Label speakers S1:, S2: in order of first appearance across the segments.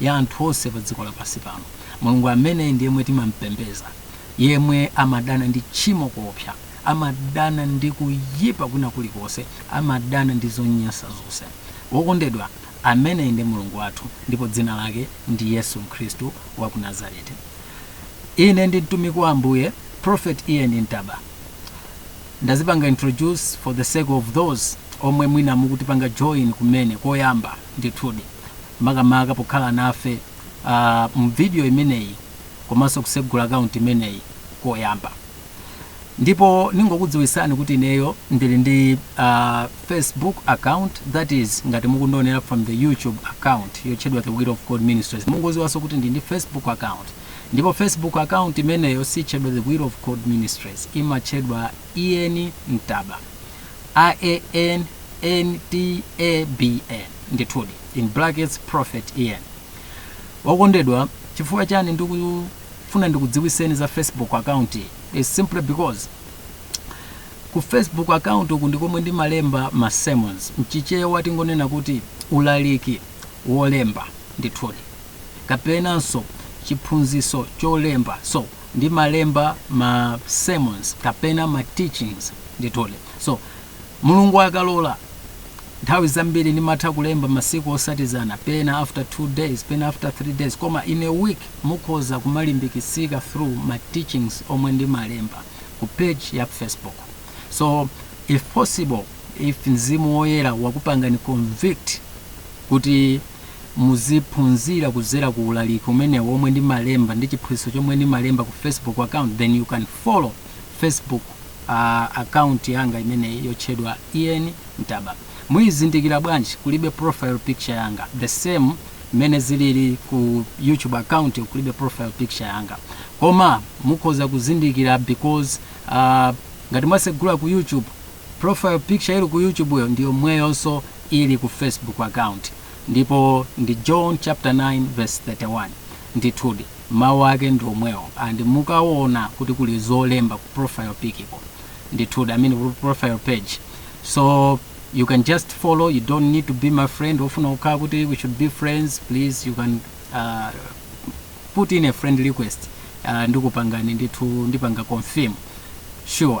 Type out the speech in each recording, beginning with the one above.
S1: ya anthu onse pa dziko lapansi pano. Mulungu ameneyi ndi yemwe timampembeza, yemwe amadana ndi tchimo koopsa, amadana ndi kuyipa kwina kulikonse, amadana ndi zonyansa zonse. Wokondedwa, ameneyi ndi Mulungu wathu, ndipo dzina lake ndi Yesu Khristu wa ku Nazareti. Ine ndi mtumiki wa Ambuye, Prophet Ian Ntaba. Ndazipanga introduce for the sake of those omwe mwina mukutipanga join kumene koyamba. Ndithudi, makamaka pokhala nafe mu vidiyo imeneyi komanso kusegula akaunti imeneyi koyamba. Ndipo ningokudziwisani kuti ineyo ndili ndi Facebook account that is ngati mukundionera from the YouTube account yotchedwa The Will of God Ministries mungoziwanso kuti ndili ndi Facebook account ndipo Facebook account imeneyo sitchedwa The Will of God Ministries imatchedwa Ian Ntaba. AN NTA BN ndithudi in brackets prophet Ian Okondedwa, chifukwa chani ndikufuna ndikudziwiseni za Facebook account iyi is simply because ku Facebook account uku ndi komwe ndimalemba ma sermons, mchichewa tingonena kuti ulaliki wolemba ndithudi, kapenanso chiphunzitso cholemba so. ndimalemba ma sermons kapena ma teachings ndithudi so mulungu akalola nthawi zambiri ndimatha kulemba masiku otsatizana pena after two days pena after three days koma in a week mukhoza kumalimbikitsika through ma teachings omwe ndimalemba ku page ya facebook so if possible if mzimu woyera wakupangani convict kuti muziphunzira kudzera ku ulaliki umenewu womwe ndimalemba ndi chiphunzitso chomwe ndimalemba ku facebook account then you can follow facebook uh, account yanga imeneyi yotchedwa Ian Ntaba muyizindikira bwanji kulibe profile picture yanga the same mmene zilili ku youtube account kulibe profile picture yanga koma mukhoza kuzindikira because uh, ngati mwasegula ku youtube Profile picture ili ku youtubeyo ndiyomweyonso ili ku facebook account ndipo ndi John chapter 9 verse 31 ndithudi mau ake ndiomwewo and mukaona kuti kuli zolemba ku profile pic ko ndithudi I mean profile page so you can just follow you don't need to be my friend ofuna kukhala kuti we should be friends please you can uh, put in a friend request uh, ndikupangani ndithu ndipanga confirm sure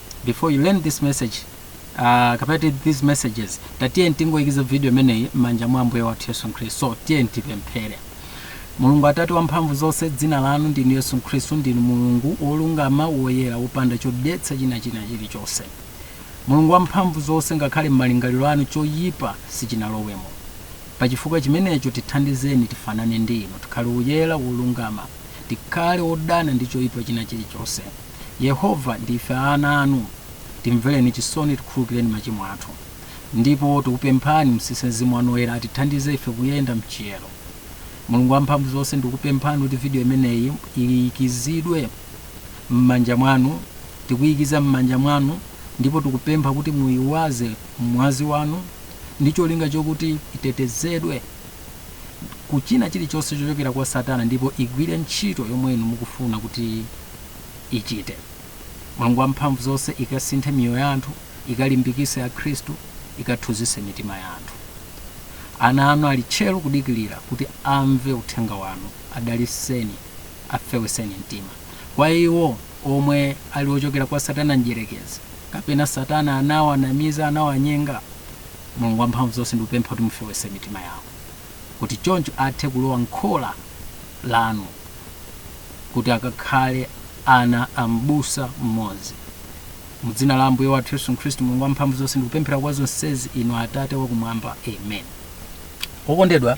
S1: before you learn this message uh, kapena ti- these messages tiyeni tingoyikiza video imeneyi m'manja mwa ambuye wathu yesu khristu so tiyeni tipemphere mulungu atate wa mphamvu zonse dzina lanu ndinu yesu khristu ndinu mulungu wolungama woyera wopanda chodetsa china chilichonse mulungu wa mphamvu zonse ngakhale m'malingaliro anu choyipa sichinalowemo pa chifukwa chimenecho tithandizeni tifanane ndi inu tikhale woyera wolungama tikhale wodana ndi choyipa china chilichonse Yehova, ndife ana anu, timvereni chisoni, tikhululukireni machimo athu. Ndipo tikupemphani mtsitse Mzimu wanu Woyera atithandize ife kuyenda m'chiyero. Mulungu wamphamvuzonse, ndikupemphani kuti video imeneyi iyikizidwe m'manja mwanu. Tikuyikiza m'manja mwanu ndipo tikupempha kuti muyiwaze m'mwazi wanu ndi cholinga chokuti itetezedwe. ku china chilichonse chochokera kwa satana ndipo igwire ntchito yomwe inu mukufuna kuti ichite mulungu wamphamvu zonse ikasinthe miyoyo ya anthu ikalimbikise akhristu ikathunzise mitima ya anthu ana anu ali tcheru kudikirira kuti amve uthenga wanu adaliseni afeweseni mtima kwa iwo omwe ali ochokera kwa satana mdyerekezi kapena satana anawanamiza anawanyenga Mulungu Wamphamvuzonse, ndikupempha kuti mufewetse mitima yawo, kuti choncho athe kulowa m'khola Lanu, kuti akakhale ana a Mbusa Mmodzi. Mu Dzina la Ambuye wathu Yesu Khristu, Mulungu Wamphamvuzonse, ndikupemphera kwa zonsezi Inu, Atate Wakumwamba. Amen. Okondedwa,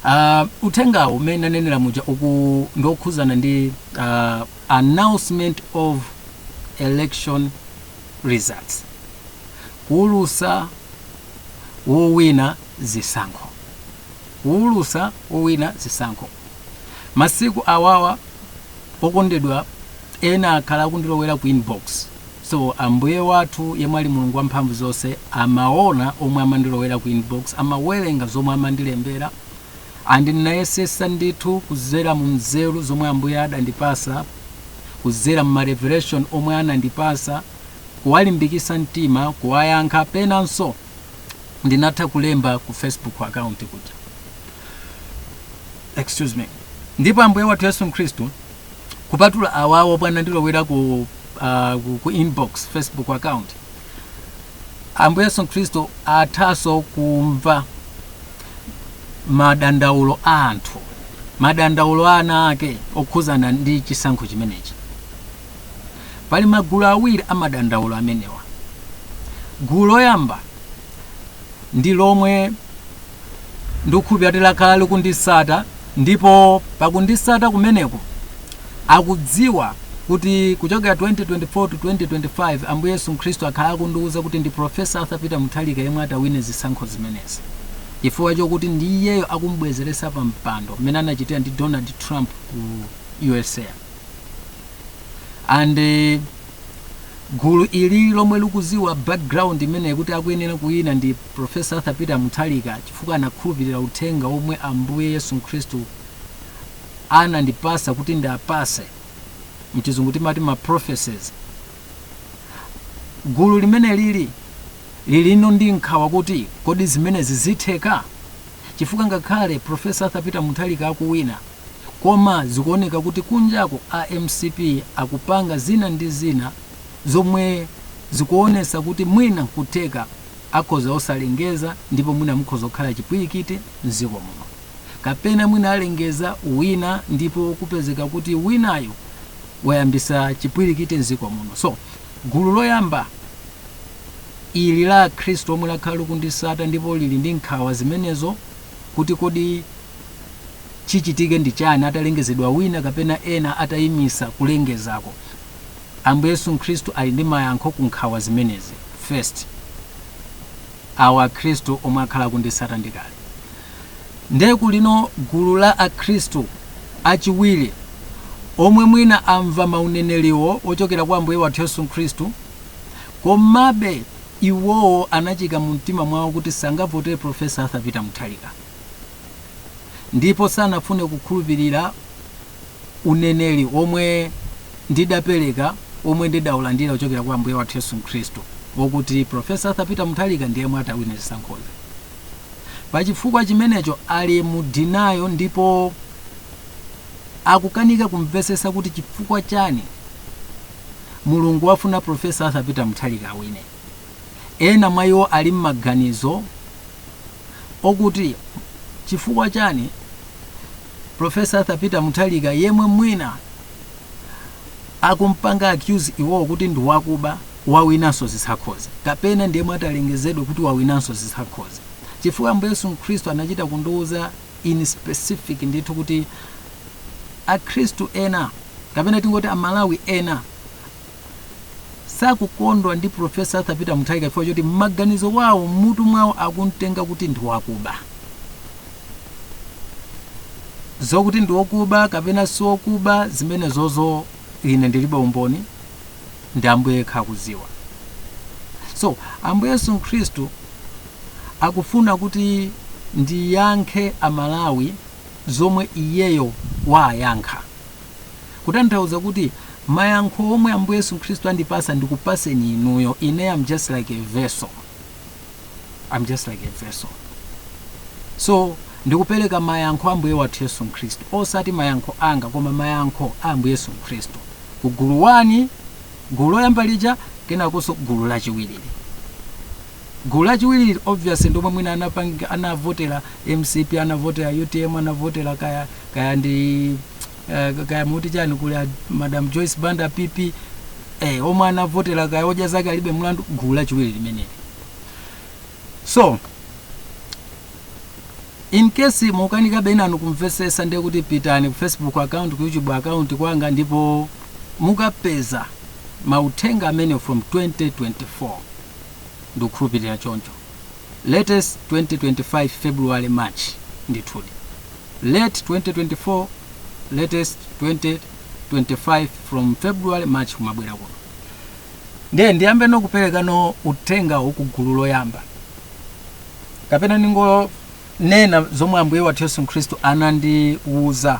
S1: a, uthengawu mmene ndanenera muja uku ndiokhuzana ndi a, announcement of election results kuwulusa wowina zisankho kuwulusa wowina zisankho masiku awawa okondedwa ena akhala akundilowera ku inbox so ambuye wathu yemwe ali mulungu wamphamvu zonse amaona omwe amandilowera ku inbox amawerenga zomwe amandilembera and ndinayesesa ndithu kuzera mu nzeru zomwe ambuye adandipasa kuzera mu ma revelation omwe anandipasa kuwalimbikisa mtima kuwayankha penanso ndinatha kulemba ku facebook account kuja excuse me ndipo ambuye wathu yesu mkhristu kupatula awawo amandilowera ku, uh, ku, ku inbox facebook account ambuye yesu mkhristu athanso kumva madandaulo a anthu madandaulo a ana ake okhuzana ndi chisankho chimenechi pali magulu awiri a madandaulo amenewa gulu loyamba ndi lomwe ndikukhulupirira kuti lakhala likundisata ndipo pakundisata kumeneko akudziwa kuti kuchokera 2024 to 2025 Ambuye Yesu Mkhristu akhala akundiwuza kuti ndi Professor Arthur Peter Mutharika yemwe atawine zisankho zimenezi chifukwa chokuti ndi iyeyo akumubwezeretsa pa mpando mmene anachitira ndi Donald Trump ku USA and eh, gulu ili lomwe likuziwa background imeneyi kuti akuyenera kuwina ndi Professor Arthur Peter Mutharika chifukwa anakhulupirira uthenga womwe Ambuye Yesu Mkhristu anandipasa kuti ndiapase mchizungu timati ma prophecies gulu limeneli lilino ndi nkhawa kuti kodi zimenezi zitheka chifukwa ngakhale professor arthur peter muthalika akuwina koma zikuoneka kuti kunjaku a mcp akupanga zina ndi zina zomwe zikuonesa kuti mwina nkutheka akhoza osalengeza ndipo mwina mukhoza kukhala chipwirikiti mziko muno Kapena mwina alengeza wina ndipo kupezeka kuti winayo wayambisa chipwilikiti mziko muno. So gulu loyamba ili la akhristu omwe lakhala likundisata ndipo lili ndi nkhawa zimenezo kuti kodi chichitike ndi chani atalengezedwa wina kapena ena atayimisa kulengezako. Ambuye Yesu Mkhristu ali ndi mayankho ku nkhawa zimenezi. First. awa akhristu omwe akhala akundisata ndikale nde kulino gulu la akhristu achiwiri omwe mwina amva mauneneriwo ochokera kwa ambuye wathu yesu mkhristu komabe iwowo anachika mu mtima mwawo kuti sangavotere professor arthur peter mutharika ndipo sanafune kukhulupirira uneneri womwe ndidapereka womwe ndidaulandira kuchokera kwa Ambuye wathu Yesu Khristu wokuti Profesa Arthur Peter Mutharika ndiye yemwe atawine zisankhozi. Pa chifukwa chimenecho ali mu denial ndipo akukanika kumvesesa kuti chifukwa chani mulungu wafuna Profesa Arthur Peter Mutharika awine. Ena mwa iwo ali m'maganizo okuti chifukwa chani Professor Arthur Peter Mutharika yemwe mwina akumpanga accuse iwowo kuti ndi wakuba wawinanso zisankhozi kapena ndi yemwe atalengezedwe kuti wawinanso zisankhozi chifukwa Ambuye Yesu Mkhristu anachita kundiwuza in specific ndithu kuti akhristu ena kapena tingoti amalawi ena sakukondwa ndi Professor Arthur Peter Mutharika chifukwa choti m'maganizo wawo m'mutu mwawo akumtenga kuti ndi wakuba. Zokuti ndi wokuba kapena si wokuba zimenezozo ine ndilibe umboni ndi Ambuye yekha akuziwa. So Ambuye Yesu Mkhristu akufuna kuti ndiyankhe Amalawi zomwe iyeyo waayankha. Kutanthauza kuti mayankho omwe Ambuye Yesu Khristu andipatsa ndikupatseni inuyo. Ine I'm just like a vessel. I'm just like a vessel. So ndikupereka mayankho a Ambuye wathu Yesu Khristu. Osati mayankho anga koma mayankho a Ambuye Yesu Khristu. Ku gulu wani, gulu loyamba lija, kenakonso gulu lachiwiri. Gulu lachiwiri obviously ndilomwe mwina anapanga anavotera mcp anavotera utm anavotera kaya kaya ndi eh, kaya muti chani kuli a madam Joyce Banda PP eh, omwe anavotera kaya odya zake alibe mlandu gulu lachiwiri limeneli so in case mukanikabe inanu kumvetsetsa ndiye kuti pitani ku facebook account ku youtube account kwanga ndipo mukapeza mauthenga amene from 2024 ndikukhulupirira choncho latest 2025 February March ndithudi late 2024 latest 2025 from February March kumabwera kuno ndiye ndiyambe no kuperekano uthenga ku gulu loyamba kapena ndingonena zomwe ambuye wathu yesu khristu anandiwuza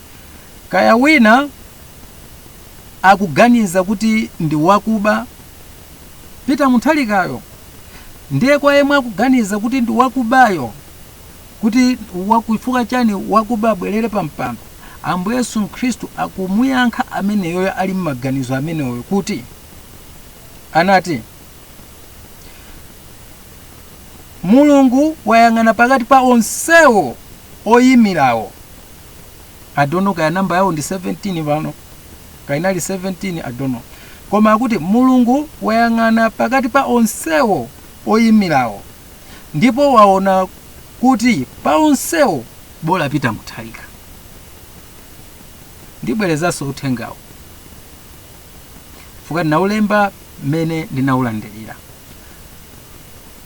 S1: Kaya wina akuganiza kuti ndi wakuba Peter Mutharikayo ndiye kwa yemwe akuganiza kuti ndi wakubayo kuti chifukwa chani wakuba abwerere pa mpando Ambuye Yesu Khristu akumuyankha ameneyoyo ali m'maganizo ameneyoyo kuti anati Mulungu wayang'ana pakati pa onsewo oyimirawo i don't know kaya namba yawo ndi 17 pano kaya inali 17 i don't know koma akuti mulungu wayang'ana pakati pa onsewo oyimirawo ndipo waona kuti pa onsewo bola Peter Mutharika ndibwerezanso uthengawo fuka ndinaulemba mmene ndinaulandirira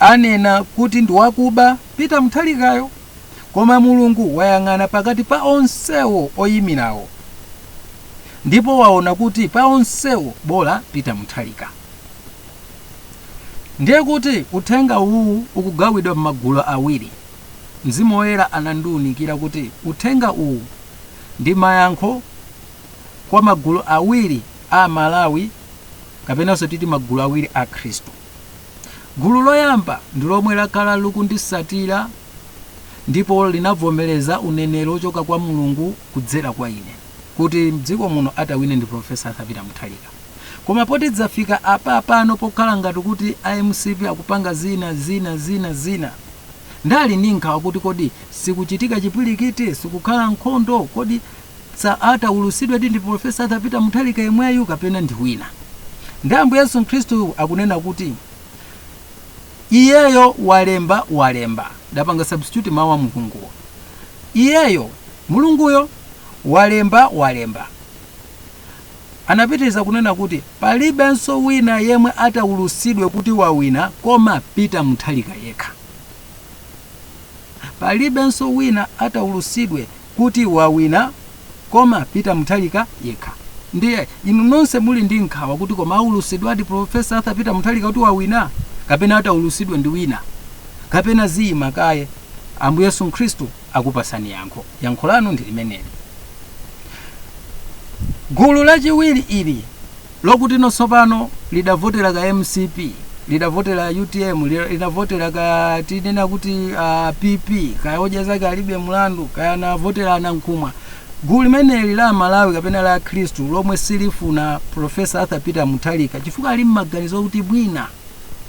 S1: anena kuti ndi wakuba Peter Mutharikayo koma Mulungu wayang'ana pakati pa onsewo oyimirawo ndipo waona kuti pa onsewo bola Peter Mutharika. Ndiye kuti uthenga uwu ukugawidwa m'magulu awiri. Mzimu Woyera anandiwunikira kuti uthenga uwu ndi mayankho kwa magulu awiri a Amalawi kapenanso titi magulu awiri a Akhristu. Gulu loyamba ndi lomwe lakhala likundisatira ndipo linavomereza uneneri ochoka kwa Mulungu kudzera kwa ine kuti mdziko muno atawine ndi Prof. Arthur Peter Mutharika. Koma poti dzafika apapano pokhala ngati kuti a mcp akupanga zina, zina, zina, zina. Nde ali ndi nkhawa kuti kodi sikuchitika chipwilikiti, sikukhala nkhondo, kodi. Sa ataulusidwedi ndi Prof. Arthur Peter Mutharika yemweyu kapena ndi wina? Nde Ambuye Yesu Khristu akunena kuti Iyeyo walemba walemba. Ndapanga substitute mawu a Mulunguwo. Iyeyo, Mulunguyo, walemba walemba. Anapitiriza kunena kuti palibenso wina yemwe ataulusidwe kuti wawina koma Peter Mutharika yekha. Palibenso wina ataulusidwe kuti wawina koma Peter Mutharika yekha. Ndiye inu nonse muli ndi nkhawa kuti koma aulusidwadi Prof. Arthur Peter Mutharika kuti wawina kapena ataulusidwe ndi wina kapena ziyima kaye. Ambuye Yesu Khristu akupasani yankho. Yankho lanu ndi limeneli. Gulu lachiwiri ili. lokuti tsopano lidavotera ka mcp lidavotera utm li- linavotera ka tinene kuti uh, pp kaya odya zake alibe mlandu kaya anavotera anankhumwa gulu limeneli la amalawi kapena la akhristu lomwe silifuna profesa arthur peter mutharika chifukwa ali mmaganizo okuti mwina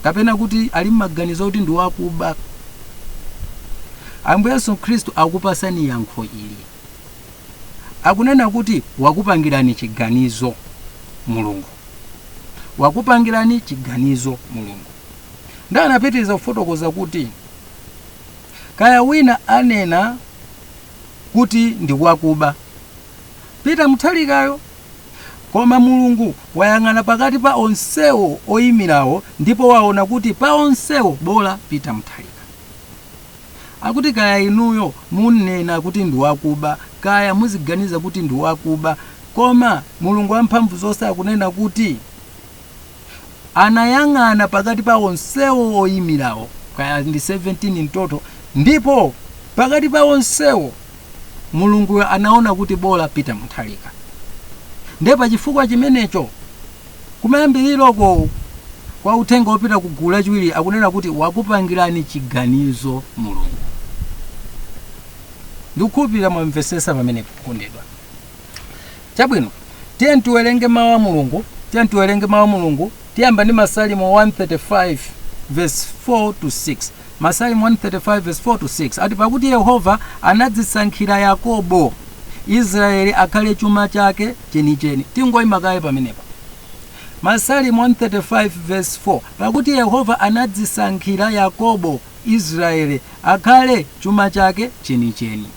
S1: kapena kuti ali mmaganizo okuti ndi wakuba ambuye yesu khristu akupasani yankho ili Akunena kuti wakupangirani chiganizo Mulungu. Wakupangirani chiganizo Mulungu. Nde anapitiriza kufotokoza kuti kaya wina anena kuti ndi wakuba Peter Mutharikayo koma Mulungu wayang'ana pakati pa onsewo oyimirawo ndipo waona kuti pa onsewo bola Peter Mutharika. Akuti kaya inuyo munena kuti ndi wakuba kaya muziganiza kuti ndi wakuba koma Mulungu wamphamvu zonse akunena kuti anayang'ana pakati pa onsewo oyimirawo kaya ndi 17 mu total ndipo pakati pa onsewo Mulunguyo anaona kuti bola Peter Mutharika. Nde pa chifukwa chimenecho Kumayambiliroko kwa uthenga opita ku gulu lachiwiri akunena kuti wakupangirani chiganizo Mulungu. Ndikukhulupirira mwamvesesa pamenepo okondedwa. Chabwino, tiyeni tiwerenge mawu a Mulungu, tiyeni tiwerenge mawu a Mulungu, tiyamba ndi Masalimo 135 vesi 4 to 6. Masalimo 135 vesi 4 to 6 ati, Pakuti Yehova anadzisankhira Yakobo, Israeli akhale chuma chake chenicheni. Tingoyima kaye pamenepa. Masalimo 135 vesi 4 pakuti Yehova anadzisankhira Yakobo, Israeli akhale chuma chake chenicheni.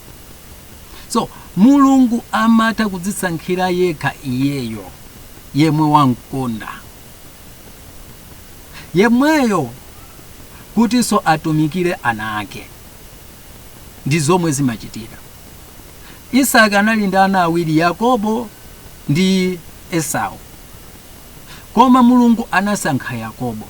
S1: So Mulungu amatha kudzisankhira yekha iyeyo yemwe wamkonda. yemweyo kutinso atumikire ana ake ndi zomwe zimachitikira isaki anali ndi ana awiri yakobo ndi esau koma mulungu anasankha yakobo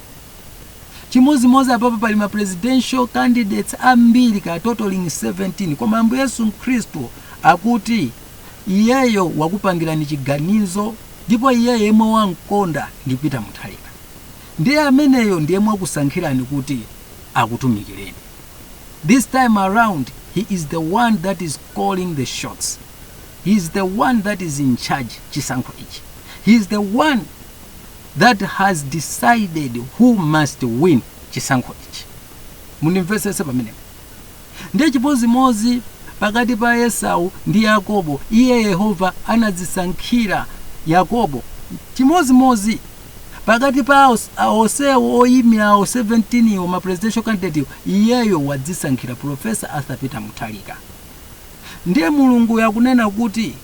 S1: chimodzimodzi apapa pali ma presidential candidates ambiri ka totaling 17 koma ambuye yesu khristu akuti Iyeyo wakupangirani chiganizo ndipo iyeyo yemwe wamkonda ndi Peter Mutharika ndiye ameneyo ndi yemwe wakusankhirani kuti akutumikireni. This time around he is the one that is calling the shots. He is the one that is in charge chisankho ichi. He is the one that has decided who must win chisankho ichi. Mundimvetsetse pamenepo. Ndiye chimodzimodzi pakati pa Esau ndi Yakobo, iye Yehova anadzisankhira Yakobo. Chimodzimodzi pakati pa onsewo oyimirawo 17 iwo ma presidential candidate iyeyo wadzisankhira Professor Arthur Peter Mutharika. Ndiye Mulunguyo akunena kuti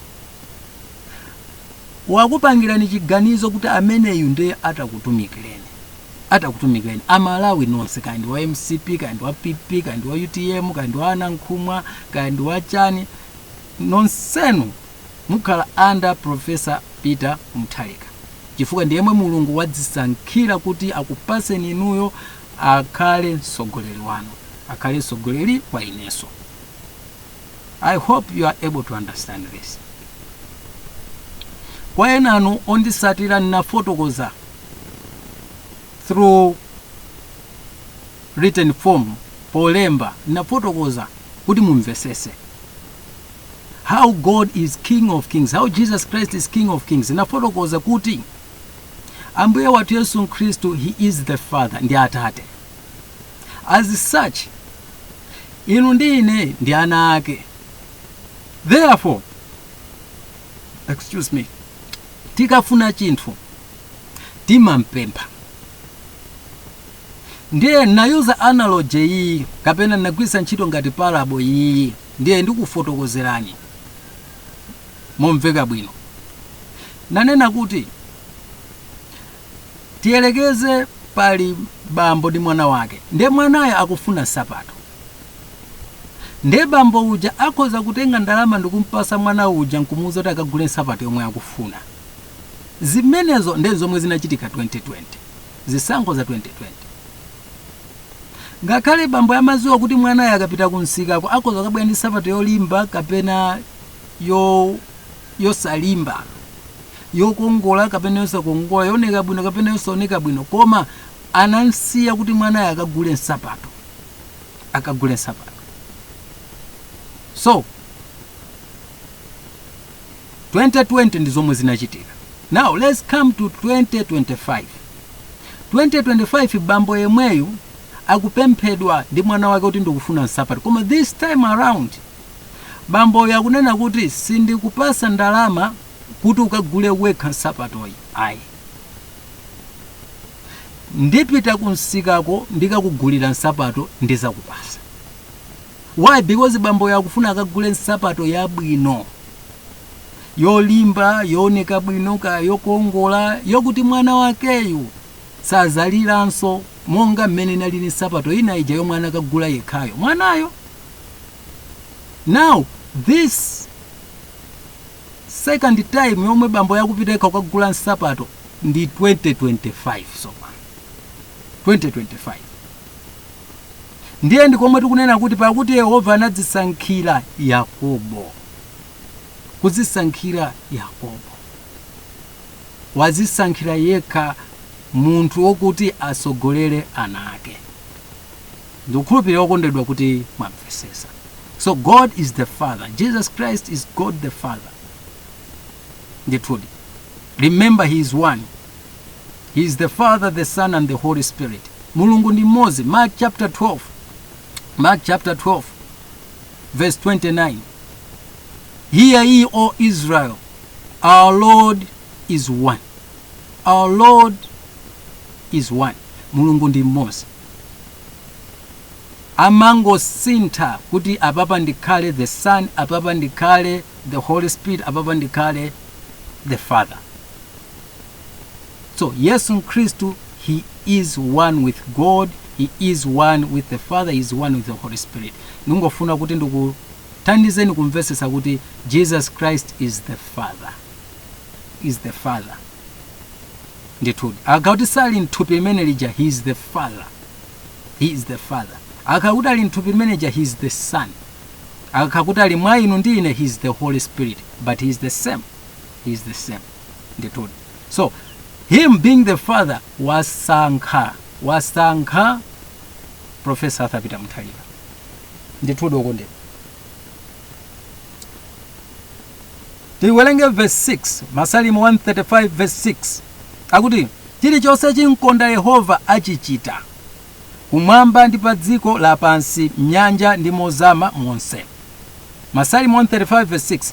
S1: wakupangirani chiganizo kuti ameneyu ndiye atakutumikireni atakutumikireni amalawi nonse kaya ndi wa mcp kaya ndi wa pp kaya ndi wa utm kaya ndi wa anankhumwa kaya ndi wa chani nonsenu mukhala under professor peter mutharika chifukwa ndi yemwe mulungu wadzisankhira kuti akupaseni inuyo akhale mtsogoleri wanu akhale mtsogoleri wa ineso i hope you are able to understand this kwa enanu ondisatira ndinafotokoza through written form polemba ndinafotokoza kuti mumvesese how god is king of kings how jesus christ is king of kings ndinafotokoza kuti ambuye wathu yesu khristu he is the father ndi atate as such inu ndi ine ndi ana ake therefore excuse me tikafuna chinthu timampempha ndiye nayuza analogy iyi kapena nagwiritsa ntchito ngati parable iyi ndiye ndikufotokozerani momveka bwino nanena kuti Tiyelekeze pali bambo ndi mwana wake. Ndiye mwanayo akufuna nsapato. Ndiye bambo uja akhoza kutenga ndalama ndikumpasa mwana uja nkumuuza kuti akagule nsapato yomwe akufuna. Zimenezo ndiye zomwe zinachitika 2020. Zisankho za 2020. Ngakhale bambo amaziwa kuti mwanayo akapita kumsikako akhoza kukabwera ndi nsapato yolimba kapena yo yosalimba, yokongola kapena yosakongola, yooneka bwino kapena yosaoneka bwino, koma anamsiya kuti mwanayo akagule nsapato, akagule nsapato. So 2020 ndi zomwe zinachitika. Now let's come to 2025. 2025 bambo yemweyu akupemphedwa ndi mwana wake kuti ndikufuna nsapato, koma this time around Bamboyo akunena kuti, Sindikupasa ndalama kuti ukagule wekha nsapatoyi ayi. Ndipita kumsikako ndikakugulira nsapato ndizakupasa. Why? Because bamboyo akufuna akagule nsapato yabwino, yolimba, yooneka bwino, kaya yokongola, yokuti mwana wakeyu sazaliranso monga mmene inalili nsapato ina ija yomwe anakagula yekhayo. Mwanayo now this second time yomwe bamboyo akupita yekha kukagula nsapato ndi 2025 sopano 2025 ndiye ndikomwe tikunena kuti pakuti yehova anadzisankhira yakobo kudzisankhira yakobo wazisankhira yekha munthu wokuti asogolere ana ake Ndikukhulupirira okondedwa kuti mwamvesesa. So God is the father, Jesus Christ is God the father. Ndithudi. Remember he is one. He is the father, the son and the holy spirit. Mulungu ndi mmodzi. Mark chapter 12. Mark chapter 12 verse 29. Hear ye, O Israel, our Lord is one. Our Lord is one. Mulungu ndi mmodzi. amangosintha kuti apapa ndikhale the son apapa ndikhale the holy spirit apapa ndikhale the father so yesu khristu he is one with god he is one with the father he is one with the holy spirit ndingofuna kuti ndikuthandizeni kumvesesa kuti jesus christ is the father is the father ndithudi akakhala kuti sali mthupi limene lija he is the father he is the father akakhala kuti ali mthupi limene lija he is the son akakhala kuti ali mwa inu ndi ine he is the holy spirit but he is the same he is the same ndithudi so him being the father wasankha profesa arthur peter muthalika ndithudi okondedwa tiwerenge verse 6 masalimo 135 verse 6 akuti chilichonse chimkonda yehova achichita kumwamba ndi pa dziko lapansi m'nyanja ndi mozama monse masalimo 135 verse 6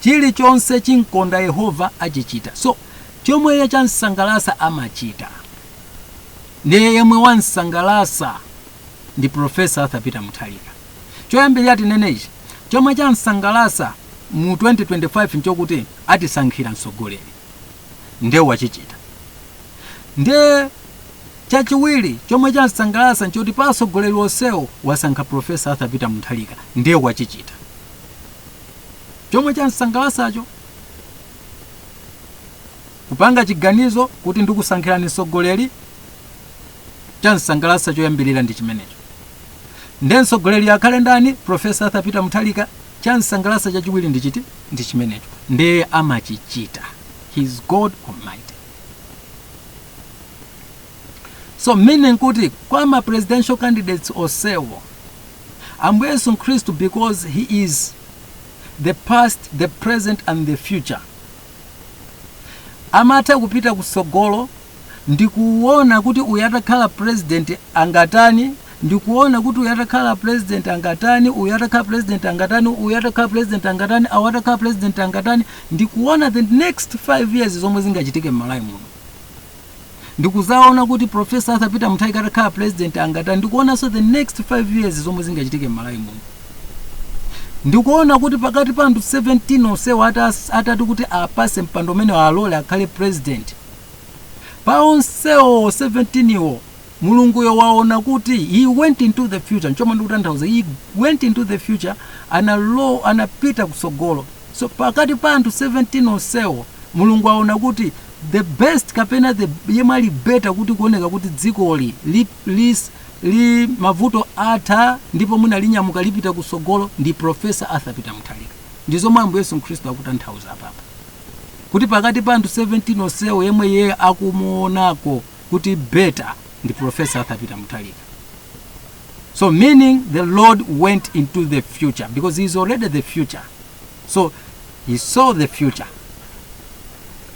S1: chilichonse chimkonda yehova achichita so chomwe iye chamsangalasa amachita ndiye yemwe wamsangalasa ndi profesa arthur peter muthalika Choyambirira tinene ichi, chomwe chamsangalasa mu 2025 nchokuti atisankhira mtsogoleri nde wachichita. Nde chachiwiri chomwe chamsangalasa nchoti pa atsogoleri onsewo wasankha Prof. Arthur Peter Muthalika nde wachichita. Chomwe chamsangalasacho kupanga chiganizo kuti ndikusankhirani mtsogoleri, chamsangalasa choyambirira ndi chimenecho. Nde mtsogoleriyo akhale ndani? Prof. Arthur Peter Mutharika. Chamsangalasa chachiwiri ndi chiti? Ndi chimenecho. Nde amachichita. He is God Almighty. So meaning kuti kwa ma presidential candidates onsewo Ambuye Yesu Khristu because he is the past, the present and the future amatha kupita kutsogolo ndikuona kuti uyu atakhala president angatani ndikuona kuti uyu atakhala president angatani uyu atakhala president angatani uyu atakhala president angatani awo atakhala president angatani ndikuona the next 5 years zomwe zingachitike m'malawi muno ndikuzaona kuti professor arthur peter mutharika atakhala president angatani ndikuonanso the next 5 years zomwe zingachitike m'malawi muno ndikuona kuti pakati pa anthu 17 onsewo atati kuti apatse mpando umene alole akhale president Pa onsewo 17 wo, Mulunguyo waona kuti he went into the future, nchomwe ndikutanthauza he went into the future, anapita kutsogolo. So pakati pa anthu 17 onsewo, Mulungu waona kuti the best kapena the yemwe ali better kuti kuoneka kuti dzikoli li, li, li mavuto atha ndipo mwina linyamuka lipita kutsogolo ndi Professor Arthur Peter Mutharika. Ndi zomwe Ambuye Yesu Khristu akutanthauza apapa. kuti pakati pa anthu 17 onsewo yemwe yeye akumuonako kuti better ndi professor arthur peter mutharika so meaning the lord went into the future because he is already the future so he saw the future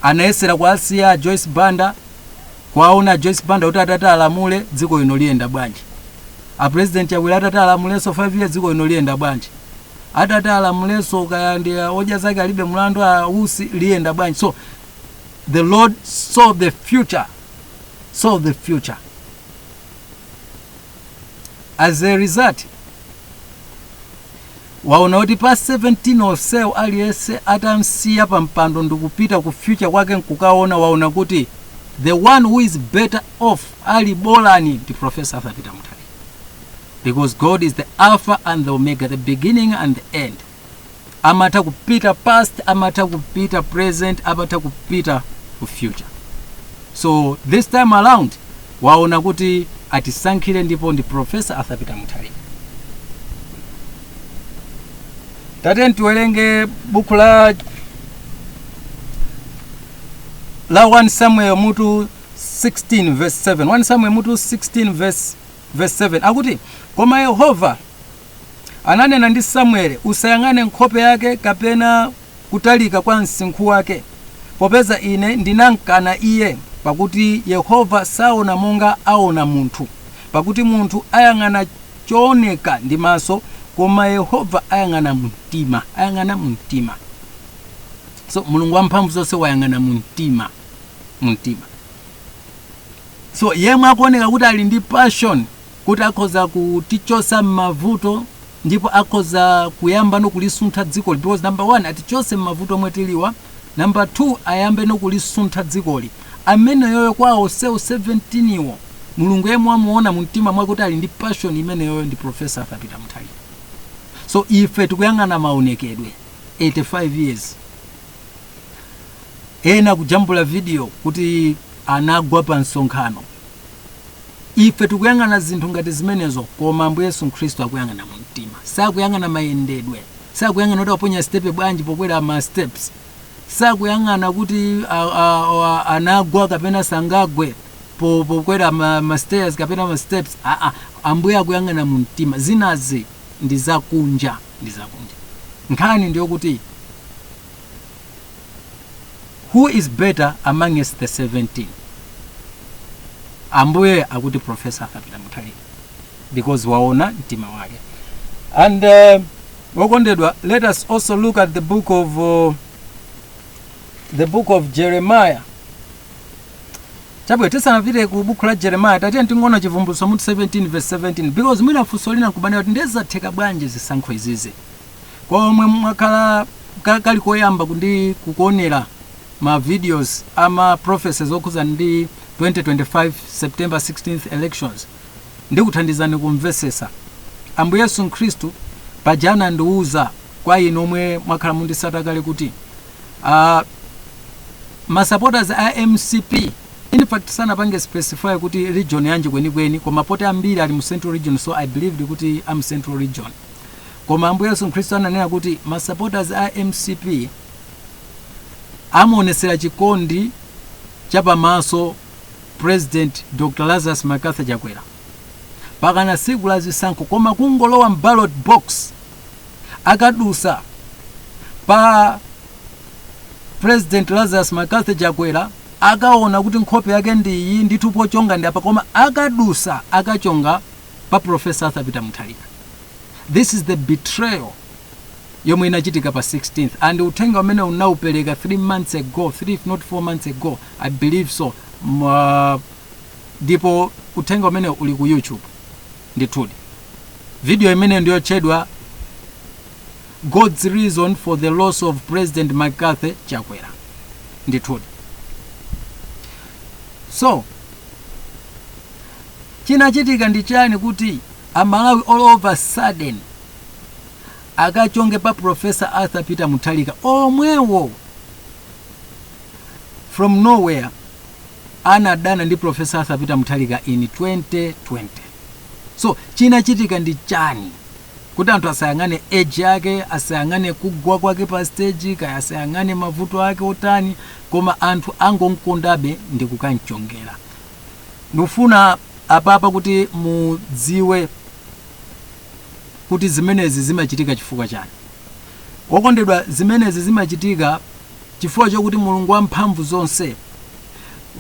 S1: anayesera kuwasiya a joyce banda kuwaona a joyce banda kuti atati alamule dziko lino liyenda bwanji apresident chakwera atati alamulenso 5 years dziko lino liyenda bwanji atati alamulenso kaya ndi odya zake alibe mlandu a usi liyenda bwanji so the lord saw the future saw the future as a result waona kuti pa 17 onsewo aliyense atamsiya pa mpando ndikupita ku future kwake nkukaona waona kuti the one who is better off ali bolani ndi profesa arthur peter mutharika because god is the alpha and the omega the beginning and the end amatha kupita past amatha kupita present amatha kupita ku future so this time around waona kuti atisankhire ndipo ndi professor arthur peter mutharika tateni tiwerenge buku la 1 samuel mutu 16 verse 7 1 samuel mutu 16 verse, verse 7 akuti koma yehova ananena ndi samueli usayang'ane nkhope yake kapena kutalika kwa msinkhu wake popeza ine ndinamkana iye pakuti yehova saona monga aona munthu pakuti munthu ayang'ana chooneka ndi maso koma yehova ayang'ana mumtima ayang'ana mumtima so mulungu wamphamvu zonse wayang'ana mumtima mu mtima so yemwe akuoneka kuti ali ndi passion kuti akhoza kutichotsa m'mavuto ndipo akhoza kuyambano kulisuntha dzikoli because number one atichotse m'mavuto omwe tiliwa number two ayambeno kulisuntha dzikoli ameneyoyo kwa onsewo 17 wo mulungu yemwe wamuona mu mtima mwake kuti ali ndi passion imeneyoyo ndi profesa arthur peter mutharika so ife tikuyang'ana maonekedwe 85 years ena kujambula video kuti anagwa pa msonkhano ife tikuyang'ana zinthu ngati zimenezo koma ambuye yesu khristu akuyang'ana mu mtima sakuyang'ana mayendedwe sakuyang'ana kuti aponya stepe bwanji pokwera ma steps sakuyang'ana kuti a, a, a, anagwa kapena sangagwe po- pokwera ma, ma stairs kapena ma steps aa ambuye akuyang'ana mu mtima zinazi ndi zakunja ndi zakunja nkhani ndiyo kuti who is better amongst the 17 ambuye akuti profesa arthur peter muthalika because waona mtima wake and uh, wokondedwa let us also look at the book of uh, the book of jeremiah Chabwino, tisanapite ku buku la Jeremiah, tatiyeni tingoona Chivumbulutso mutu 17 verse 17 because mwina funso lina nkubana kuti ndiye zatheka bwanji zisankho izizi kwa omwe mwakhala ka- kali koyamba ndi kukuonera ma videos ama prophecies okhudza ndi 2025 September 16th elections ndikuthandizani kumvesesa. Ambuye Yesu Khristu paja anandiuza kwa inu omwe mwakhala mundisata kale kuti uh, ma supporters a mcp in fact sanapange specify kuti region yanji kwenikweni koma poti ambiri ali mu central region so i believed kuti a mu central region koma ambuye yesu khristu ananena kuti ma supporters a mcp amuonesera chikondi chapamaso President Dr Lazarus McCarthy Chakwera pakana siku la zisankho koma kungolowa m'ballot box akadusa pa President Lazarus McCarthy Chakwera akaona kuti nkhope yake ndi iyi ndithu pochonga ndi apa koma akadusa akachonga pa Professor Arthur Peter Mutharika this is the betrayal yomwe inachitika pa 16th and uthenga umene ndinaupereka 3 months ago 3 if not 4 months ago i believe so uh, ndipo uthenga umene uli ku youtube ndithudi video imene ndiyotchedwa god's reason for the loss of president mccarthy chakwera ndithudi so chinachitika ndi chani kuti amalawi all of a sudden akachonge pa professor arthur peter muthalika omwewo from nowhere anadana ndi professor arthur peter muthalika in 2020 so chinachitika ndi chani kuti anthu asayang'ane age yake asayang'ane kugwa kwake pa stage kaya asayang'ane mavuto ake otani koma anthu angomkondabe ndi kukamchongera ndikufuna apapa kuti mudziwe kuti zimenezi zimachitika chifukwa chani. Okondedwa zimenezi zimachitika chifukwa chokuti Mulungu wa mphamvu zonse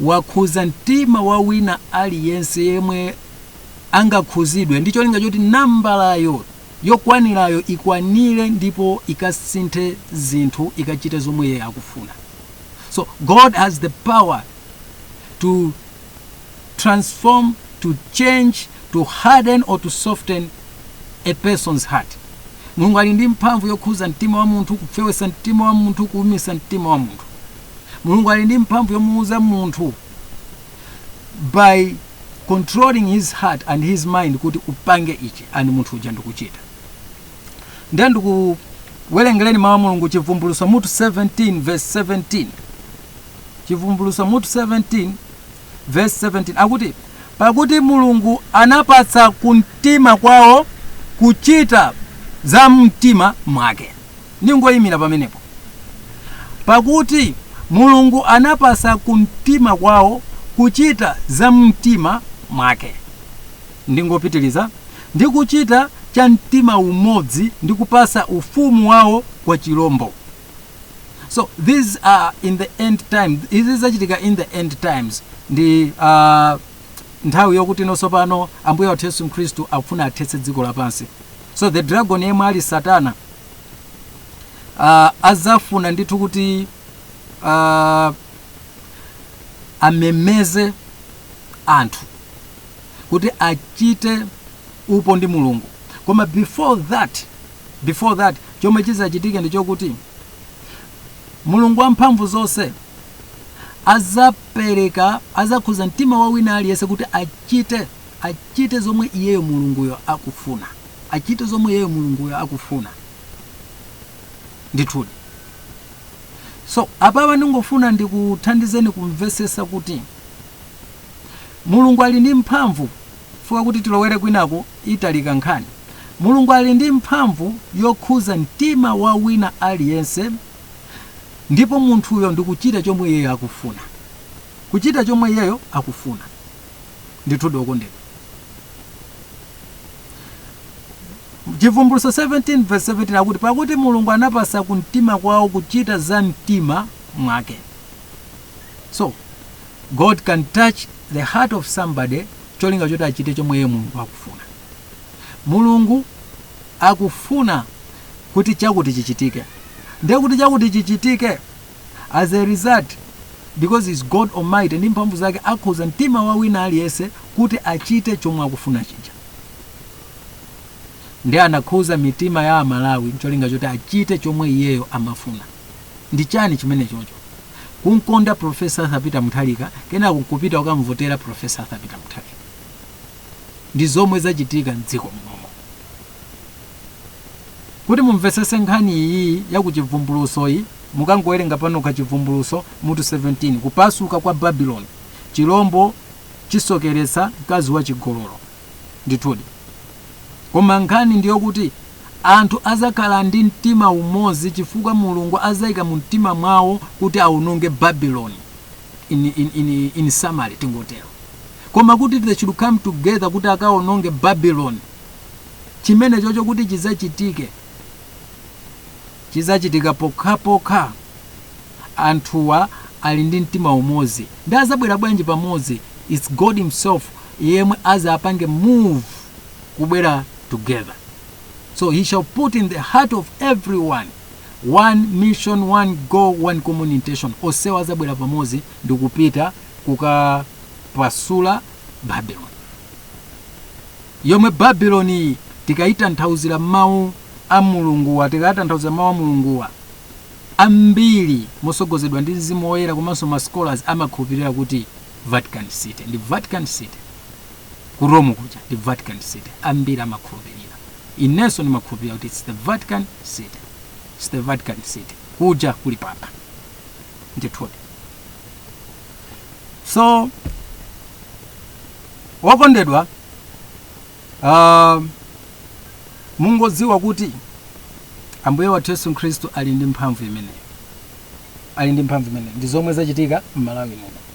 S1: wakhuza mtima wa wina aliyense yemwe angakhuzidwe ndi cholinga choti nambalayo yokwanirayo ikwanire ndipo ikasinthe zinthu ikachite zomwe iye akufuna. So God has the power to transform, to change, to harden or to soften a person's heart. Mulungu ali ndi mphamvu yokhuza mtima wa munthu, kufewesa mtima wa munthu, kuumisa mtima wa munthu. Mulungu ali ndi mphamvu yomuuza munthu by controlling his heart and his mind kuti upange ichi and munthu uja ndikuchita. Ndiye ndikuwerengereni mawu a Mulungu Chivumbulutso mutu 17 verse 17. Chivumbulutso mutu 17 vesi 17 akuti, Pakuti Mulungu anapatsa kumtima kwawo kuchita za mtima mwake. Ndingoyimira pamenepo. Pakuti Mulungu anapatsa kumtima kwawo kuchita za mtima mwake. Ndingopitiriza ndi kuchita cha mtima umodzi ndi kupatsa ufumu wawo kwa chirombo. so these are in the end time izi zizachitika in the end times ndi uh, nthawi yokuti ino tsopano ambuye wathu yesu khristu akufuna athetse dziko lapansi so the dragon yemwe ali satana uh, azafuna ndithu kuti uh, amemeze anthu kuti achite upo ndi mulungu koma before that before that chomwe chizachitike ndi chokuti mulungu wamphamvu zonse azapereka azakhuza mtima wa wina aliyense kuti achite achite zomwe iyeyo mulunguyo akufuna achite zomwe iyeyo mulunguyo akufuna ndithudi so apapa ndingofuna ndikuthandizeni kumvesesa kuti mulungu ali ndi mphamvu fukwa kuti tilowere kwinaku italika nkhani. Mulungu ali ndi mphamvu yokhuza mtima wa wina aliyense ndipo munthuyo ndikuchita chomwe iyeyo akufuna. Kuchita chomwe iyeyo akufuna. Ndithudi okondedwa. Chivumbulutso 17 verse 17 akuti pakuti Mulungu anapasa ku mtima kwawo kuchita za mtima mwake. So, God can touch the heart of somebody cholinga choti achite chomwe iye mulungu akufuna mulungu akufuna kuti chakuti chichitike ndiye kuti chakuti chichitike as a result because he is god almighty ndi mphamvu zake akhuza mtima wa wina aliyense kuti achite chomwe akufuna chija ndiye anakhuza mitima ya amalawi ncholinga choti achite chomwe iyeyo amafuna Ndi chani chimene chocho? Kumkonda Prof. Arthur Peter Mutharika kenako nkupita kukamuvotera Prof. Arthur Peter Mutharika. Ndi zomwe zachitika m'dziko munomo. Kuti mumvetsetse nkhani iyi ya ku Chivumbulutso yi, mukangowerenga panokha Chivumbulutso mutu 17, Kupasuka kwa Babeloni, Chilombo Chisokeretsa Mkazi Wachigololo. Ndithudi. Koma nkhani ndi yokuti. Anthu adzakhala ndi mtima umodzi chifukwa Mulungu adzaika mu mtima mwawo kuti awononge Babylon, in summary tingotero. Koma kuti they should come together kuti akawononge Babylon, chimene chocho kuti chidzachitike, chidzachitika pokhapokha anthuwa ali ndi mtima umodzi. Ndi adzabwera bwanji pamodzi? It's God himself yemwe adzapange move. kubwera together so he shall put in the heart of everyone one mission one goal one common intention onsewa azabwera pamodzi ndi kupita kukapasula babylon yomwe babylon tikayitanthauzira mawu a mulunguwa tikayitanthauzira mawu a mulunguwa ambiri mosogozedwa ndi mzimu woyera komanso ma scholars amakhulupirira kuti vatican city ndi vatican city ku Rome kuja ndi Vatican City. Ambiri amakhulupirira. Inenso ndimakhulupirira kuti it's the Vatican City. It's the Vatican City. Kuja kuli papa. Ndithudi. So, wokondedwa, uh, mungodziwa kuti Ambuye wathu Yesu Khristu ali ndi mphamvu imeneyo. Ali ndi mphamvu imeneyo. Ndi zomwe zachitika m'Malawi muno.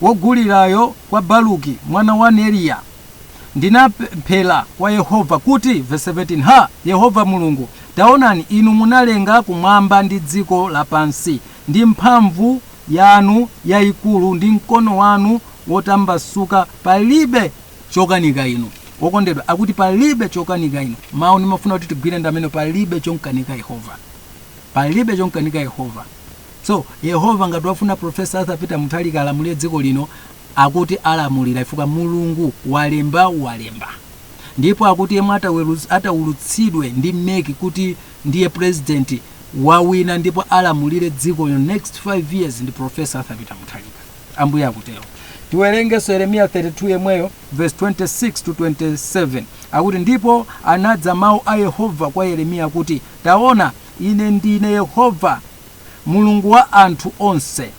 S1: wogulirayo kwa Baruki mwana wa Neriya, Ndinapemphera kwa Yehova kuti, vesi 17, Ha, Yehova Mulungu, taonani, inu munalenga kumwamba ndi dziko lapansi ndi mphamvu yanu yaikulu ndi mkono wanu wotambasuka, palibe chokanika inu. Wokondedwa akuti palibe chokanika inu. Mawu ndimafuna kuti tigwire ndi amene palibe chomkanika Yehova. Palibe chomkanika Yehova. So Yehova ngati wafuna Prof. Arthur Peter Mutharika alamulire dziko lino akuti alamulira chifukwa Mulungu walemba walemba. Ndipo akuti yemwe ataulutsidwe ndi MEC kuti ndiye president wawina ndipo alamulire dziko lino next 5 years ndi Prof. Arthur Peter Mutharika. Ambuye akutero. Tiwerengenso Yeremiya 32 yemweyo verse 26 to 27 akuti ndipo anadza mawu a Yehova kwa Yeremiya kuti taona Ine ndine Yehova, Mulungu wa anthu onse.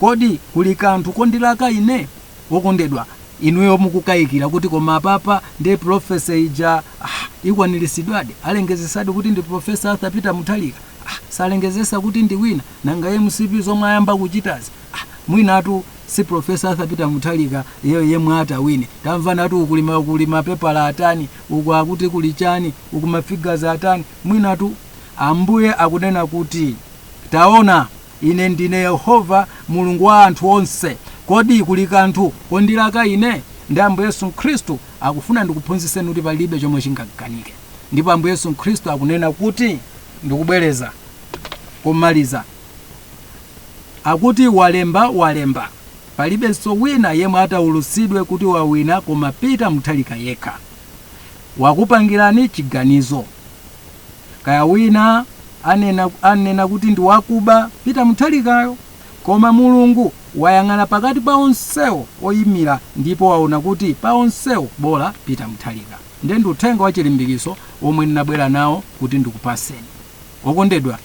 S1: Kodi kuli kanthu kondilaka Ine? Okondedwa, inuyo mukukayikira kuti koma apapa ndi pulofesa ija ah, ikwanirisidwadi alengezesadi kuti ndi pulofesa Arthur Peter Mutharika ah, salengezesa kuti ndi wina nanga mcp zomwe ayamba kuchitazi ah, mwinatu si pulofesa Arthur Peter Mutharika yeyo yemwe atawine tamvanatu uku kuli mapepala atani uku akuti kuli chani uku mafigazi atani Mwinatu Ambuye akunena kuti, Taona, Ine ndine Yehova, Mulungu wa anthu onse, kodi kuli kanthu kondilaka Ine? Ndi Ambuye Yesu Khristu akufuna ndikuphunzitseni kuti palibe chomwe chingamkanike. Ndipo Ambuye Yesu Khristu akunena kuti, ndikubwereza komaliza, akuti, Walemba, walemba, palibenso wina yemwe ataulutsidwe kuti wawina koma Peter Mutharika yekha. wakupangirani chiganizo. Kaya wina anena kuti ndi wakuba Peter Mutharikayo, koma Mulungu wayang'ana pakati pa onsewo oyimira ndipo waona kuti pa onsewo bola Peter Mutharika. Nde ndi uthenga wa chilimbikiso omwe ndinabwera nawo kuti ndikupaseni. Okondedwa,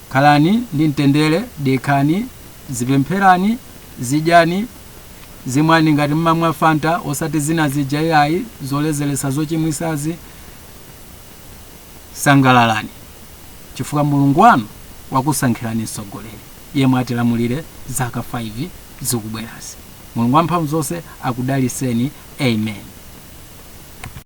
S1: khalani ndi mtendere, dekhani, zipempherani, zidyani, zimwani ngati mmamwa fanta osati zina zija iyayi zolezeretsa zochimwisazi sangalalani chifukwa mulungu wanu wakusankhirani mtsogoleri yemwe atilamulire zaka 5 zikubwerazi mulungu wamphamvu zonse akudaliseni amen